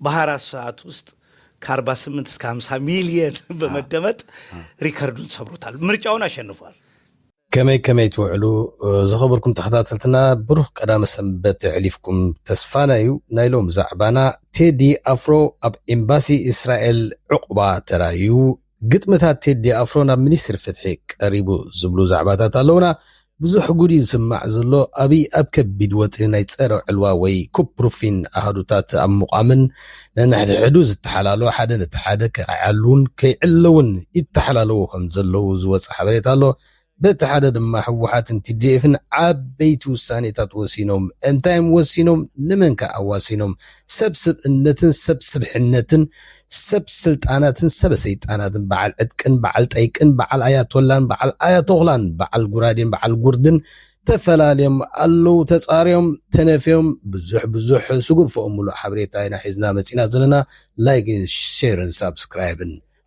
በሃራት ሰዓት ውስጥ ከአርባ ስምንት እስከ ሃምሳ ሚሊየን በመደመጥ ሪከርዱን ሰብሮታል። ምርጫውን አሸንፏል። ከመይ ከመይ ትውዕሉ ዝኸበርኩም ተኸታተልትና ብሩኽ ቀዳመ ሰንበት የሕሊፍኩም ተስፋና እዩ ናይ ሎም ዛዕባና ቴዲ ኣፍሮ ኣብ ኤምባሲ እስራኤል ዕቑባ ተራእዩ ግጥምታት ቴዲ ኣፍሮ ናብ ሚኒስትሪ ፍትሒ ቀሪቡ ዝብሉ ዛዕባታት ኣለዉና። ብዙሕ ጉድ እዩ ዝስማዕ ዘሎ። ኣብይ ኣብ ከቢድ ወጥሪ ናይ ፀረ ዕልዋ ወይ ኩፕ ፕሩፊን ኣሃዱታት ኣብ ምቋምን ነንሕድሕዱ ዝተሓላልው ሓደ ነቲ ሓደ ከይዓልዉን ከይዕለዉን ይተሓላለዉ ከምዘለዉ ዝወፀ ሓበሬታ ኣሎ። በቲ ሓደ ድማ ህወሓትን ቲዲኤፍን ዓበይቲ ውሳኔታት ወሲኖም። እንታይ'ዮም ወሲኖም? ንመንከ ኣዋሲኖም? ሰብ ስብእነትን ሰብ ስብሕነትን፣ ሰብ ስልጣናትን ሰበ ሰይጣናትን፣ በዓል ዕጥቅን በዓል ጠይቅን፣ በዓል ኣያቶላን በዓል ኣያቶኽላን፣ በዓል ጉራዴን በዓል ጉርድን፣ ተፈላልዮም ኣለዉ፣ ተጻርዮም፣ ተነፍዮም፣ ብዙሕ ብዙሕ ስጉርፎኦም ምሉእ ሓበሬታ ኢና ሒዝና መጺእና ዘለና፣ ላይክን ሼርን ሳብስክራይብን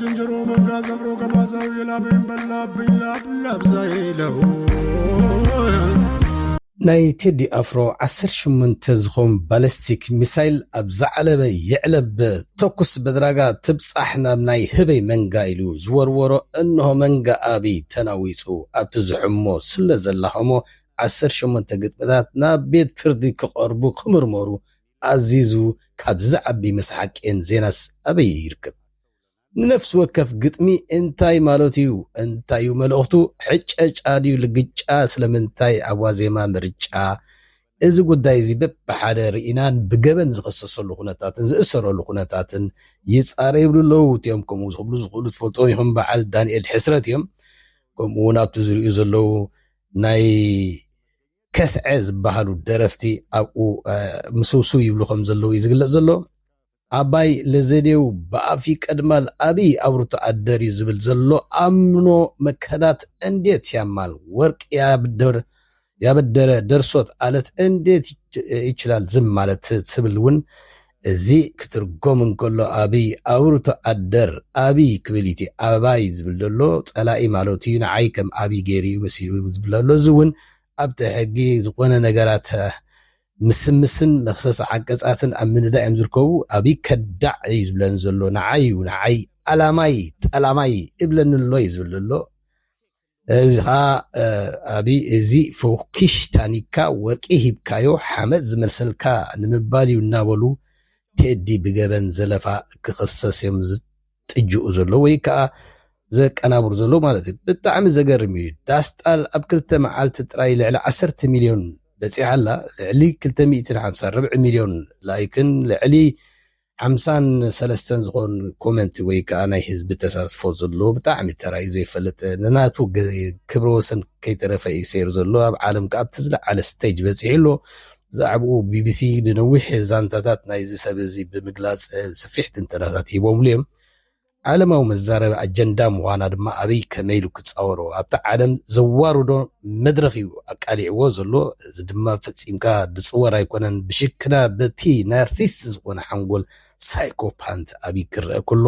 ዝንጀሮ መንጋ ዘብሮ ገማዛው የላበይን በላብኝ ላብላብዛ ይለው ናይ ቴዲ ኣፍሮ ዓሰርተ ሸሞንተ ዝኾም ባለስቲክ ሚሳይል ኣብ ዝዓለበ ይዕለብ ተኩስ በድራጋ ትብጻሕ ናብ ናይ ህበይ መንጋ ኢሉ ዝወርወሮ እንሆ መንጋ ኣብይ ተናዊጹ ኣብቲ ዝሕሞ ስለዘላሆሞ ዓሰርተ ሸሞንተ ግጥምታት ናብ ቤት ፍርዲ ክቀርቡ ክምርመሩ ኣዚዙ ካብዚ ዝዓቢ መስሓቅየን ዜናስ ኣበይ ይርከብ ንነፍሲ ወከፍ ግጥሚ እንታይ ማለቱ ዩ እንታይ ዩ መልእኽቱ ሕጨጫ ድዩ ልግጫ ስለምንታይ ኣብ ዋዜማ ምርጫ እዚ ጉዳይ እዚ በብሓደ ርኢናን ብገበን ዝኽሰሰሉ ኩነታትን ዝእሰረሉ ኩነታትን ይጻረ ይብሉ ኣለዉ እቲኦም ከምኡ ክብሉ ዝኽእሉ ትፈልጥዎም ኢኹም በዓል ዳንኤል ሕስረት እዮም ከምኡ ውን ኣብቲ ዝርእዩ ዘለዉ ናይ ከስዐ ዝበሃሉ ደረፍቲ ኣብኡ ምስውስው ይብሉ ከም ዘለዉ እዩ ዝግለጽ ዘሎ። ኣባይ ለዘዴው በኣፍ ይቀድማል ኣብይ ኣብርቶ ኣደርዩ ዝብል ዘሎ ኣምኖ መከዳት እንዴት ያማል ወርቅ ያብድር ያበደረ ደርሶት ኣለት እንዴት ይችላል ዝም ማለት ትብል እውን እዚ ክትርጎም እንከሎ ኣብይ ኣውርቶ ኣደር ኣብይ ክብል ኢቲ ኣበባይ ዝብል ደሎ ጸላኢ ማለቱ ኢዩ ንዓይ ከም ኣብይ ገይሩ ኢዩ መሲሉ ዝብል ደሎ እዚ ውን ኣብቲ ሕጊ ዝኮነ ነገራት ምስምስን መክሰስ ዓንቀጻትን ኣብ ምንዳእ ኢዮም ዝርከቡ ኣብይ ከዳዕ ኢዩ ዝብለኒ ዘሎ ንዓይ ኢዩ ንዓይ ኣላማይ ጠላማይ እብለኒ ኣሎ ኢዩ ዝብል ደሎ እዚ ኸኣ ኣብይ እዚ ፎኪሽ ታኒካ ወርቂ ሂብካዮ ሓመድ ዝመልሰልካ ንምባል እዩ እናበሉ ቴዲ ብገበን ዘለፋ ክኽሰስ እዮም ዝጥጅኡ ዘለዉ ወይ ከኣ ዘቀናብሩ ዘለዉ ማለት እዩ ብጣዕሚ ዘገርም እዩ ዳስጣል ኣብ ክልተ መዓልቲ ጥራይ ልዕሊ ዓሰርተ ሚልዮን በጺሓ ኣላ ልዕሊ ክልተ ሚእትን ሓምሳን ርብዒ ሚልዮን ላይክን ልዕሊ ሓምሳን ሰለስተን ዝኮን ኮመንት ወይ ከኣ ናይ ህዝቢ ተሳትፎ ዘለዎ ብጣዕሚ ተራእዩ ዘይፈልጥ ንናቱ ክብረ ወሰን ከይተረፈ እዩ ሰይሩ ዘሎ ኣብ ዓለም ከኣ ኣብቲ ዝለዓለ ስተጅ በጺሑ ኣሎ ብዛዕብኡ ቢቢሲ ንነዊሕ ዛንታታት ናይዚ ሰብ እዚ ብምግላጽ ስፊሕ ትንተናታት ሂቦምሉ እዮም ዓለማዊ መዛረቢ ኣጀንዳ ምዃና ድማ ኣብይ ከመይ ኢሉ ክጻወሮ ኣብቲ ዓለም ዘዋርዶ መድረኽ እዩ ኣቃሊዕዎ ዘሎ። እዚ ድማ ፈጺምካ ዝጽወር ኣይኮነን። ብሽክና በቲ ናርሲስት ዝኾነ ሓንጎል ሳይኮፓንት ኣብይ ክረኣ ከሎ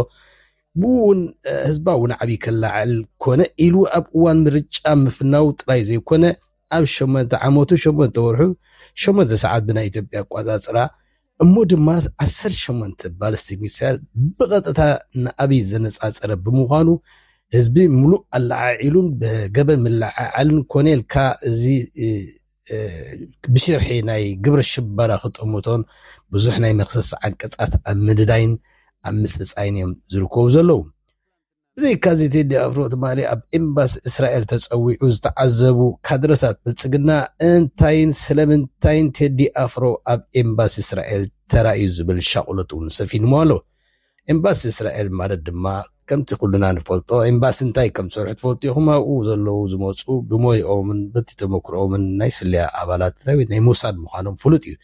ብኡውን ህዝባዊ ናዕቢ ከለዓዕል ኮነ ኢሉ ኣብ እዋን ምርጫ ምፍናው ጥራይ ዘይኮነ ኣብ ሸሞንተ ዓመቱ ሸሞንተ ወርሑ ሸሞንተ ሰዓት ብናይ ኢትዮጵያ ኣቋጻጽራ እሞ ድማ ዓሰርተ ሸሞንተ ባሊስቲክ ሚሳይል ብቐጥታ ንኣብይ ዘነፃፀረ ብምዃኑ ህዝቢ ሙሉእ ኣለዓዒሉን ብገበን ምልዕዓልን ኮኔልካ እዚ ብሽርሒ ናይ ግብረ ሽበራ ክጥምቶን ብዙሕ ናይ መኽሰሲ ዓንቀፃት ኣብ ምድዳይን ኣብ ምፅፃይን እዮም ዝርከቡ ዘለዉ። ብዘይካዚ ቴዲ ኣፍሮ ትማሊ ኣብ ኤምባሲ እስራኤል ተፀዊዑ ዝተዓዘቡ ካድረታት ብልፅግና እንታይን ስለምንታይን ቴዲ ኣፍሮ ኣብ ኤምባሲ እስራኤል ተራእዩ ዝብል ሻቕሎት እውን ሰፊንዎ ኣሎ። ኤምባሲ እስራኤል ማለት ድማ ከምቲ ኩልና ንፈልጦ ኤምባሲ እንታይ ከም ዝሰርሑ ትፈልጡ ኢኹም ኣብኡ ዘለዉ ዝመፁ ብሞይኦምን በቲ ተመክሮኦምን ናይ ስለያ ኣባላት ናይ ሞሳድ ምዃኖም ፍሉጥ እዩ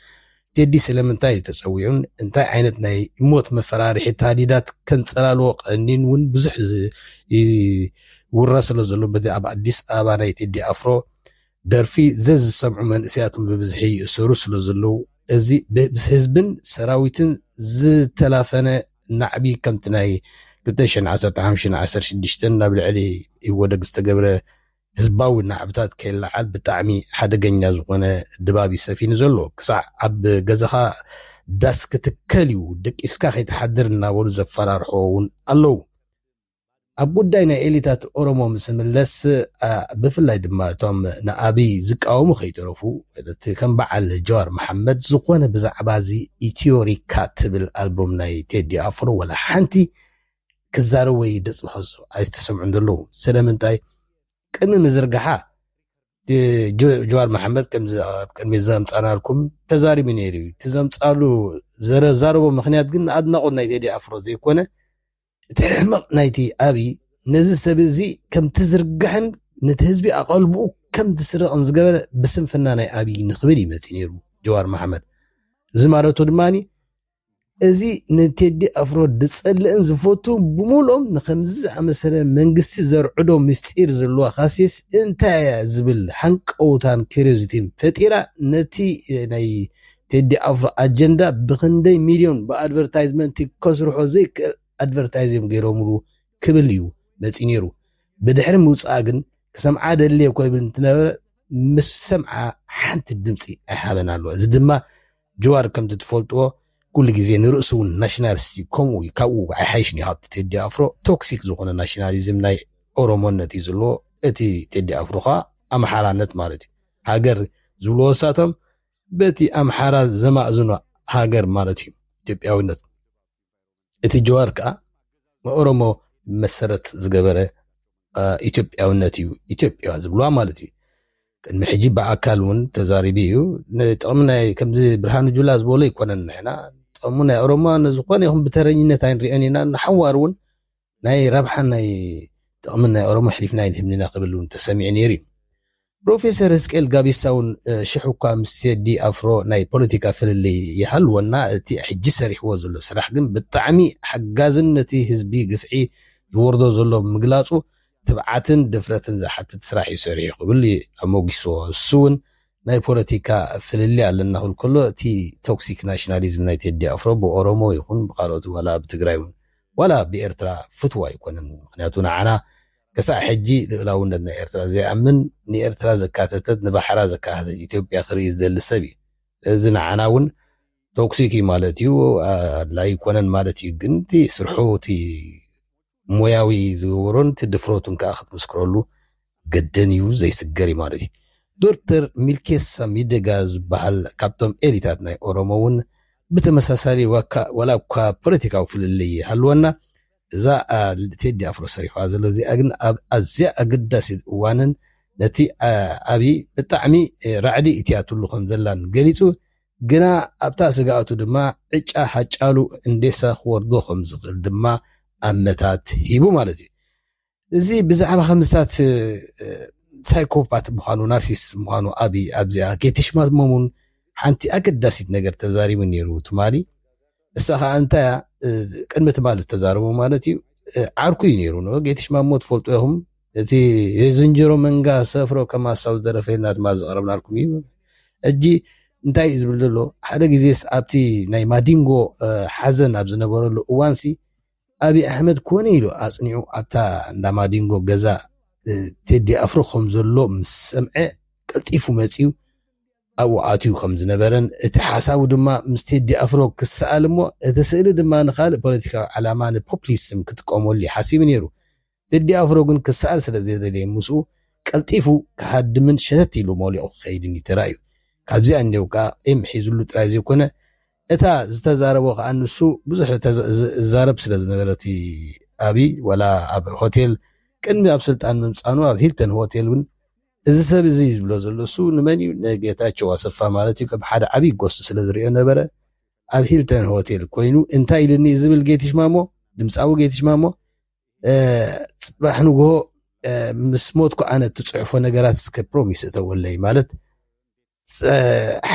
ቴዲ ስለምንታይ ተጸዊዑን እንታይ ዓይነት ናይ ሞት መፈራርሒ ታህዲዳት ከንጸላልዎ ቀንዲን እውን ብዙሕ ይውረ ስለዘሎ በዚ ኣብ ኣዲስ ኣበባ ናይ ቴዲ ኣፍሮ ደርፊ ዘዝሰምዑ መንእሰያት ብብዝሒ ይእሰሩ ስለዘለዉ እዚ ምስ ህዝብን ሰራዊትን ዝተላፈነ ናዕቢ ከምቲ ናይ ክልተ ሽሕን ዓሰርተ ሓሙሽተን ዓሰርተ ሽዱሽተን ናብ ልዕሊ ኢህወደግ ዝተገብረ ህዝባዊ ናዕብታት ከይለዓል ብጣዕሚ ሓደገኛ ዝኾነ ድባብ እዩ ሰፊኑ ዘሎ። ክሳዕ ኣብ ገዛኻ ዳስ ክትከል እዩ፣ ደቂስካ ከይትሓድር እናበሉ ዘፈራርሕዎ እውን ኣለዉ። ኣብ ጉዳይ ናይ ኤሊታት ኦሮሞ ምስ እንምለስ፣ ብፍላይ ድማ እቶም ንኣብይ ዝቃወሙ ከይተረፉ፣ እቲ ከም በዓል ጀዋር መሓመድ ዝኾነ ብዛዕባ እዚ ኢትዮሪካ ትብል ኣልቡም ናይ ቴዲ ኣፍሮ ዋላ ሓንቲ ክዛረብ ወይ ድጽ ክሕዙ ኣይተሰምዑን ዘለዉ ስለምንታይ ቅድሚ ምዝርግሓ ጀዋር መሓመድ ከምዚ ኣብ ቅድሚ ዘምጻናልኩም ተዛሪቡ ነይሩ እዩ እቲ ዘምጻሉ ዘረዛረቦ ምክንያት ግን ንኣድናቆት ናይ ቴዲ ኣፍሮ ዘይኮነ እቲ ሕመቕ ናይቲ ኣብይ ነዚ ሰብ እዚ ከም ትዝርግሕን ነቲ ህዝቢ ኣቐልብኡ ከም ትስርቕን ዝገበረ ብስንፍና ናይ ኣብይ ንክብል ይመፅ ነይሩ ጀዋር መሓመድ እዚ ማለቱ ድማ እዚ ንቴዲ ኣፍሮ ዝጸልእን ዝፈቱን ብምሉኦም ንኸምዚ ዝኣመሰለ መንግስቲ ዘርዕዶ ምስጢር ዘለዋ ካሴት እንታይ እያ ዝብል ሃንቀውታን ኪርዮሲቲን ፈጢራ ነቲ ናይ ቴዲ ኣፍሮ ኣጀንዳ ብኽንደይ ሚልዮን ብኣድቨርታይዝመንቲ ከስርሖ ዘይክእል ኣድቨርታይዝ እዮም ገይሮምሉ ክብል እዩ መጺኡ ነይሩ ብድሕሪ ምውጽኣ ግን ክሰምዓ ደልየ እኮ ይብል እንትነበረ ምስ ሰምዓ ሓንቲ ድምጺ ኣይሃበን ኣሎ እዚ ድማ ጅዋር ከምቲ ትፈልጥዎ ኩሉ ግዜ ንርእሱ ውን ናሽናልስት እዩ ከምኡ እዩ ካብኡ ኣይሓይሽን እዩ ሃብቲ ቴዲ ኣፍሮ ቶክሲክ ዝኾነ ናሽናሊዝም ናይ ኦሮሞነት እዩ ዝልዎ እቲ ቴዲ ኣፍሮ ከኣ ኣምሓራነት ማለት እዩ ሃገር ዝብልዎ ንሳቶም በቲ ኣምሓራ ዘማእዝኖ ሃገር ማለት እዩ ኢትዮጵያዊነት እቲ ጀዋር ከኣ ንኦሮሞ መሰረት ዝገበረ ኢትዮጵያውነት እዩ ኢትዮጵያ ዝብልዋ ማለት እዩ ቅድሚ ሕጂ ብኣካል እውን ተዛሪቡ እዩ ንጥቕሚ ናይ ከምዚ ብርሃኑ ጁላ ዝበሎ ኣይኮነን ንሕና ጥቕሚ ናይ ኦሮሞ ንዝኾነ ይኹን ብተረኝነት ኣይንሪኦን ኢና ንሓዋር እውን ናይ ረብሓን ናይ ጥቕምን ናይ ኦሮሞ ኣሕሊፍና ኣይንህብንና ክብል እውን ተሰሚዑ ነይሩ እዩ። ፕሮፌሰር ህዝቅኤል ጋቢሳ እውን ሽሕ እኳ ምስ ቴዲ ኣፍሮ ናይ ፖለቲካ ፍልልይ ይሃልወና እቲ ሕጂ ሰሪሕዎ ዘሎ ስራሕ ግን ብጣዕሚ ሓጋዝን ነቲ ህዝቢ ግፍዒ ዝወርዶ ዘሎ ምግላጹ ትብዓትን ድፍረትን ዝሓትት ስራሕ እዩ ሰሪሑ ክብል ኣሞጊስዎ። ንሱ እውን ናይ ፖለቲካ ፍልልይ ኣለና ክብል ከሎ እቲ ቶክሲክ ናሽናሊዝም ናይ ቴዲ ኣፍሮ ብኦሮሞ ይኹን ብካልኦት ዋላ ብትግራይ እውን ዋላ ብኤርትራ ፍትው ኣይኮነን ምኽንያቱ ንዓና ክሳዕ ሕጂ ልኡላውነት ናይ ኤርትራ ዘይኣምን ንኤርትራ ዘካተተት ንባሕራ ዘካታተት ኢትዮጵያ ክርኢ ዝደሊ ሰብ እዩ ስለዚ ንዓና ውን ቶክሲክ እዩ ማለት እዩ ኣድላይ ኣይኮነን ማለት እዩ ግን እቲ ስርሑ እቲ ሞያዊ ዝገበሮን እቲ ድፍረቱን ከኣ ክትምስክረሉ ግድን እዩ ዘይስገር እዩ ማለት እዩ። ዶርተር ሚልኬሳ ሚደጋ ዝባሃል ካብቶም ኤሊታት ናይ ኦሮሞ ውን ብተመሳሳሊ ዋላ እኳ ፖለቲካዊ ፍልልይ ይሃልወና እዛ ቴዲ ኣፍሮ ሰሪሑዋ ዘሎ እዚኣ ግን ኣብ ኣዝያ ኣገዳሲት እዋንን ነቲ ዓቢ ብጣዕሚ ራዕዲ እትያትሉ ከም ዘላን ገሊጹ ግና ኣብታ ስግኣቱ ድማ ዕጫ ሃጫሉ ህንዴሳ ክወርዶ ከም ዝኽእል ድማ ኣመታት ሂቡ ማለት እዩ። እዚ ብዛዕባ ከምዝታት ሳይኮፓት ምዃኑ ናርሲስ ምዃኑ ኣቢ ኣብዚኣ ጌትሽማት መሙን ሓንቲ ኣገዳሲት ነገር ተዛሪቡ ነይሩ ትማሊ እሳ ከዓ እንታይ ቅድሚ ትማሊ ዝተዛረቡ ማለት እዩ ዓርኩ እዩ ነይሩ ን ጌትሽማሞ ትፈልጡ ኢኹም እቲ የዝንጀሮ መንጋ ሰፍሮ ከም ኣሳብ ዝደረፈ ልና ትማሊ ዘቕረብናልኩም እዩ እጂ እንታይ እዩ ዝብል ዘሎ ሓደ ግዜስ ኣብቲ ናይ ማዲንጎ ሓዘን ኣብ ዝነበረሉ እዋንሲ ኣብይ ኣሕመድ ኮነ ኢሉ ኣጽኒዑ ኣብታ እንዳ ማዲንጎ ገዛ ቴዲ ኣፍሮ ከም ዘሎ ምስ ሰምዐ ቀልጢፉ መጺኡ ኣብኡ ኣትዩ ከም ዝነበረን እቲ ሓሳቡ ድማ ምስ ቴዲ ኣፍሮ ክሰኣል እሞ እቲ ስእሊ ድማ ንኻልእ ፖለቲካዊ ዓላማ ንፖፕሊስም ክጥቀመሉ እዩ ሓሲቡ ነይሩ ቴዲ ኣፍሮ ግን ክሰኣል ስለ ዘይደለየን ምስኡ ቀልጢፉ ክሃድምን ሸተት ኢሉ ሞሊቑ ክኸይድን እዩ ተራእዩ። ካብዚኣ እንዲያው ከኣ ቂም ሒዙሉ ጥራይ ዘይኮነ እታ ዝተዛረቦ ከኣ ንሱ ብዙሕ ዝዛረብ ስለ ዝነበረ እቲ ኣብይ ዋላ ኣብ ሆቴል ቅድሚ ኣብ ስልጣን ምምጻኑ ኣብ ሂልተን ሆቴል ውን እዚ ሰብ እዚ ዝብሎ ዘሎ እሱ ንመን እዩ ንጌታቸው ኣሰፋ ማለት እዩ ከም ሓደ ዓብይ ጎስት ስለ ዝሪኦ ነበረ ኣብ ሂልተን ሆቴል ኮይኑ እንታይ ኢልኒ ዝብል ጌትሽ ማሞ ድምጻዊ ጌትሽ ማሞ ጽባሕ ንግሆ ምስ ሞትኩ ኣነ እትጽሕፎ ነገራት እስከ ፕሮሚስ እተወለይ ማለት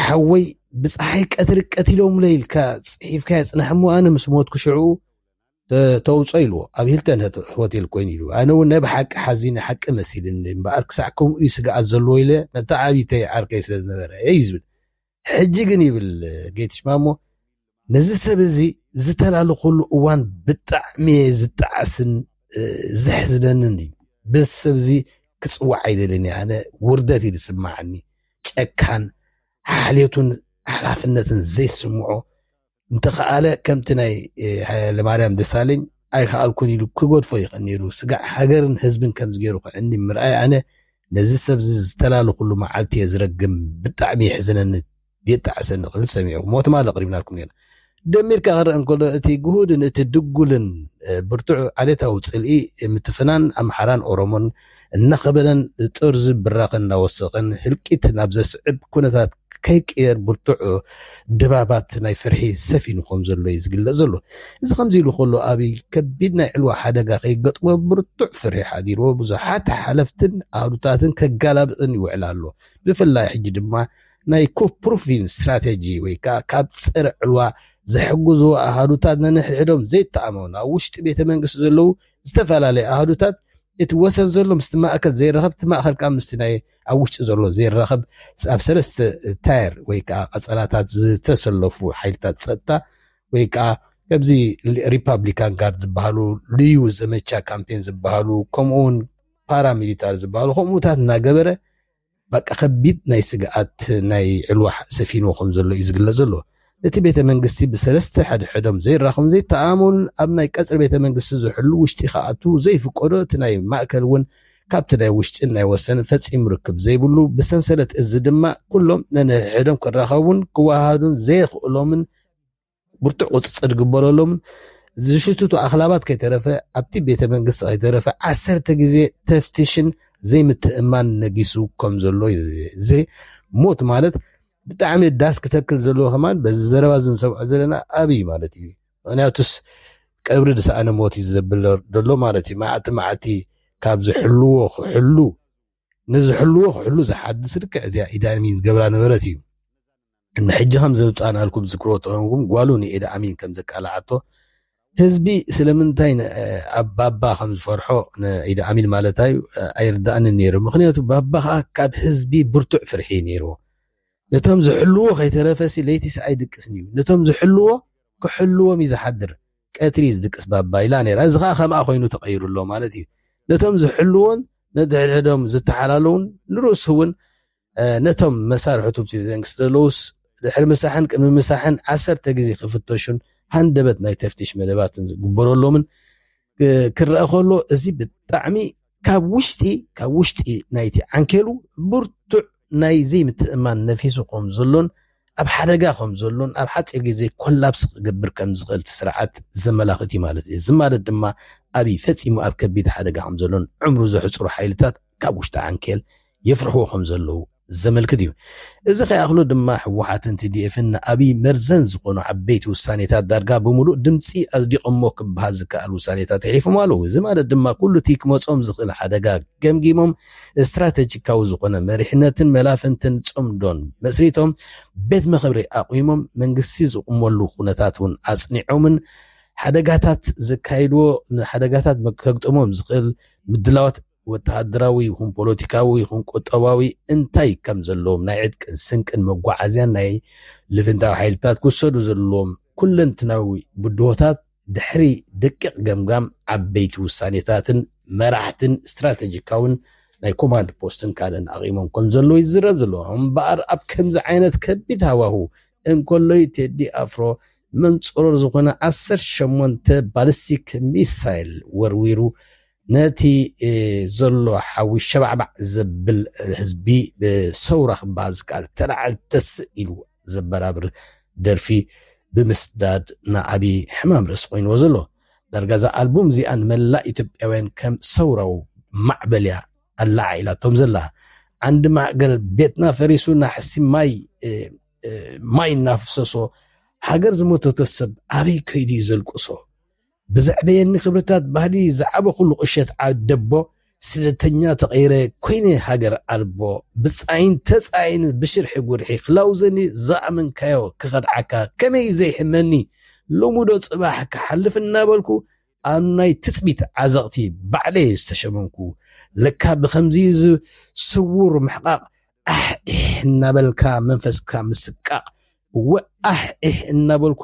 ሓወይ ብፀሓይ ቀትሪ ቀቲሎም ለኢልካ ፅሒፍካ የፅናሕ እሞ ኣነ ምስ ሞትኩ ሽዑ ተውፆ ኢልዎ ኣብ ሂልተን ሆቴል ኮይኑ ኢሉ ኣነ እውን ናይ ብሓቂ ሓዚነ ሓቂ መሲልኒ እምበኣር ክሳዕ ከምኡ እዩ ስግኣት ዘለዎ ኢለ ነታ ዓብይተይ ዓርከይ ስለ ዝነበረ እዩ ዝብል ሕጂ ግን ይብል ጌትሽ ማሞ ነዚ ሰብ እዚ ዝተላልኹሉ እዋን ብጣዕሚ እየ ዝጣዓስን ዘሕዝነንን እዩ በዚ ሰብ እዚ ክፅዋዕ ኣይደልን እየ ኣነ ውርደት እዩ ዝስማዓኒ ጨካን ሓልዮቱን ሓላፍነትን ዘይስምዖ እንተኸኣለ ከምቲ ናይ ሃይለማርያም ደሳለኝ ኣይከኣልኩን ኢሉ ክገድፎ ይኽእል ነይሩ። ስጋዕ ሃገርን ህዝብን ከምዚ ገይሩ ክዕኒ ምርኣይ ኣነ ነዚ ሰብዚ ዝተላለኹሉ መዓልቲ እየ ዝረግም ብጣዕሚ የሕዝነኒ የጣዕሰኒ ክብል ሰሚዕኩሞ ትማሊ ኣቕሪብናልኩም ኔርና። ደሚርካ ክረኣ እንከሎ እቲ ግሁድን እቲ ድጉልን ብርቱዕ ዓሌታዊ ጽልኢ ምትፍናን ኣምሓራን ኦሮሞን እናኸበደን ጥርዙ ብራኸ እናወሰኸን ህልቂት ናብ ዘስዕብ ኩነታት ከይቅየር ብርቱዕ ድባባት ናይ ፍርሒ ሰፊኑ ከም ዘሎ እዩ ዝግለጽ ዘሎ። እዚ ከምዚ ኢሉ ከሎ ኣብይ ከቢድ ናይ ዕልዋ ሓደጋ ከይገጥሞ ብርቱዕ ፍርሒ ሓዲርዎ ብዙሓት ሓለፍትን ኣሃዱታትን ከጋላብጥን ይውዕል ኣሎ። ብፍላይ ሕጂ ድማ ናይ ኩፕሩፊን ስትራቴጂ ወይ ከዓ ካብ ፀረ ዕልዋ ዘሕግዙ ኣሃዱታት ነንሕድሕዶም ዘይተኣማመኑ ኣብ ውሽጢ ቤተ መንግስቲ ዘለዉ ዝተፈላለየ ኣሃዱታት እቲ ወሰን ዘሎ ምስቲ ማእከል ዘይራኸብ እቲ ማእከል ከኣ ምስቲ ናይ ኣብ ውሽጢ ዘሎ ዘይራኸብ ኣብ ሰለስተ ታየር ወይ ከኣ ቀጸላታት ዝተሰለፉ ሓይልታት ጸጥታ ወይ ከኣ ከምዚ ሪፓብሊካን ጋርድ ዝበሃሉ ልዩ ዘመቻ ካምፔን ዝበሃሉ ከምኡውን ፓራሚሊታሪ ዝበሃሉ ከምኡታት እናገበረ በቃ ከቢድ ናይ ስግኣት ናይ ዕልዋ ሰፊንዎ ከም ዘሎ እዩ ዝግለጽ ዘሎ። ነቲ ቤተ መንግስቲ ብሰለስተ ሕድሕዶም ዘይራኸቡን ዘይተኣማመኑን ኣብ ናይ ቀጽሪ ቤተ መንግስቲ ዝሕሉ ውሽጢ ክኣትዉ ዘይፍቀዶ እቲ ናይ ማእከል እውን ካብቲ ናይ ውሽጥን ናይ ወሰንን ፈጺሙ ርክብ ዘይብሉ ብሰንሰለት እዚ ድማ ኩሎም ነንሕድሕዶም ክራኸቡን ክወሃሃዱን ዘየኽእሎምን ብርቱዕ ቁፅፅር ዝግበረሎምን ዝሽትቱ ኣኽላባት ከይተረፈ ኣብቲ ቤተ መንግስቲ ከይተረፈ ዓሰርተ ግዜ ተፍትሽን ዘይምትእምማን ነጊሱ ከም ዘሎ እዩ እዚ ሞት ማለት ብጣዕሚ ዳስ ክተክል ዘለዎ ከማን በዚ ዘረባ እዚ ንሰምዖ ዘለና ኣብ እዩ ማለት እዩ ምክንያቱስ ቀብሪ ዝሰኣነ ሞት እዩ ዘብል ዘሎ ማለት እዩ መዓልቲ መዓልቲ ካብ ዝሕልዎ ክሕሉ ንዝሕልዎ ክሕሉ ዝሓድስ ልክዕ እዚኣ ኢድ ኣሚን ዝገብራ ነበረት እዩ እነ ሕጂ ከም ዘብጻናልኩም ዝክሮ ጥዑንኩም ጓሉ ንኤድ ኣሚን ከም ዘቃላዓቶ ህዝቢ ስለምንታይ ኣብ ባባ ከም ዝፈርሖ ንኢድ ኣሚን ማለት ኣዩ ኣይርዳእንን ነይሩ ምክንያቱ ባባ ከኣ ካብ ህዝቢ ብርቱዕ ፍርሒ እዩ ነይርዎ ነቶም ዝሕልዎ ከይተረፈሲ ለይቲስ ኣይድቅስን እዩ ነቶም ዝሕልዎ ክሕልዎም እዩ ዝሓድር ቀትሪ ዝድቅስ ባባ ኢላ ነይራ እዚ ከኣ ከምኣ ኮይኑ ተቀይሩ ኣሎ ማለት እዩ ነቶም ዝሕልዎን ነድሕድሕዶም ዝተሓላለዉን ንርእሱ እውን ነቶም መሳርሕቱ ዘንግስ ዘለዉስ ድሕሪ ምሳሕን ቅድሚ ምሳሕን ዓሰርተ ግዜ ክፍተሹን ሃንደበት ናይ ተፍትሽ መደባትን ዝግበረሎምን ክረኣ ከሎ እዚ ብጣዕሚ ካብ ውሽጢ ካብ ውሽጢ ናይቲ ዓንኬሉ ብርቱዕ ናይ ዘይምትእምማን ነፊሱ ከም ዘሎን ኣብ ሓደጋ ከም ዘሎን ኣብ ሓጺር ግዜ ኮላፕስ ክገብር ከም ዝኽእል እቲ ስርዓት ዘመላኽት እዩ ማለት እዩ። እዚ ማለት ድማ ኣብይ ፈጺሙ ኣብ ከቢድ ሓደጋ ከም ዘሎን ዕምሩ ዘሕጽሩ ሓይልታት ካብ ውሽጢ ዓንኬል የፍርሕዎ ከም ዘለዉ ዘመልክት እዩ። እዚ ከይኣኽሎ ድማ ህወሓትን ቲዲኤፍን ንኣብይ መርዘን ዝኾኑ ዓበይቲ ውሳኔታት ዳርጋ ብምሉእ ድምጺ ኣጽዲቖሞ ክበሃል ዝከኣል ውሳኔታት የሕሊፎም ኣለዉ። እዚ ማለት ድማ ኩሉ እቲ ክመጾም ዝኽእል ሓደጋ ገምጊሞም ስትራተጂካዊ ዝኾነ መሪሕነትን መላፍንትን ጽምዶን መስሪቶም ቤት መኸብሪ ኣቑሞም መንግስቲ ዝቑመሉ ኩነታት እውን ኣጽኒዖምን ሓደጋታት ዘካይድዎ ንሓደጋታት ከግጥሞም ዝኽእል ምድላዋት ወተሃደራዊ ይኹን ፖለቲካዊ ይኹን ቁጠባዊ እንታይ ከም ዘለዎም ናይ ዕጥቅን ስንቅን መጓዓዝያን ናይ ልፍንታዊ ሓይልታት ክውሰዱ ዘለዎም ኩለንትናዊ ብድሆታት ድሕሪ ደቂቕ ገምጋም ዓበይቲ ውሳኔታትን መራሕትን ስትራተጂካውን ናይ ኮማንድ ፖስትን ካልእን ኣቚሞም ከም ዘለዉ ይዝረብ ዘሎ። እምበኣር ኣብ ከምዚ ዓይነት ከቢድ ሃዋሁ እንከሎዩ ቴዲ ኣፍሮ መንጽሮር ዝኾነ ዓሰርተ ሸሞንተ ባሊስቲክ ሚሳይል ወርዊሩ ነቲ ዘሎ ሓዊ ሸባዕባዕ ዘብል ህዝቢ ብሰውራ ክበሃል ዝከኣል ተላዓል ተስእ ኢሉ ዘበራብር ደርፊ ብምስዳድ ንኣብይ ሕማም ርእሲ ኮይንዎ ዘሎ። ዳርጋ እዛ ኣልቡም እዚኣ ንመላእ ኢትዮጵያውያን ከም ሰውራዊ ማዕበልያ ኣለዓዒላቶም ዘላ። ዓንዲ ማእገር ቤትና ፈሪሱ ናሕሲ ማይ ማይ እናፍሰሶ ሃገር ዝሞተቶ ሰብ ኣበይ ከይዱ እዩ ዘልቅሶ? ብዘዕበየኒ ክብርታት ባህሊ ዝዓበኹሉ ቁሸት ዓደቦ ስደተኛ ተቐይረ ኮይነ ሃገር ኣልቦ ብጻይን ተጻይን ብሽርሒ ጉርሒ ክላውዘኒ ዝኣመንካዮ ክኸድዓካ ከመይ ዘይሕመኒ ሎሚዶ ጽባሕ ክሓልፍ እናበልኩ ኣብ ናይ ትጽቢት ዓዘቕቲ ባዕለይ ዝተሸመምኩ ለካ ብኸምዚ ስዉር ምሕቓቕ ኣሕ ኢሕ እናበልካ መንፈስካ ምስቃቕ እወ ኣሕ ኢሕ እናበልኩ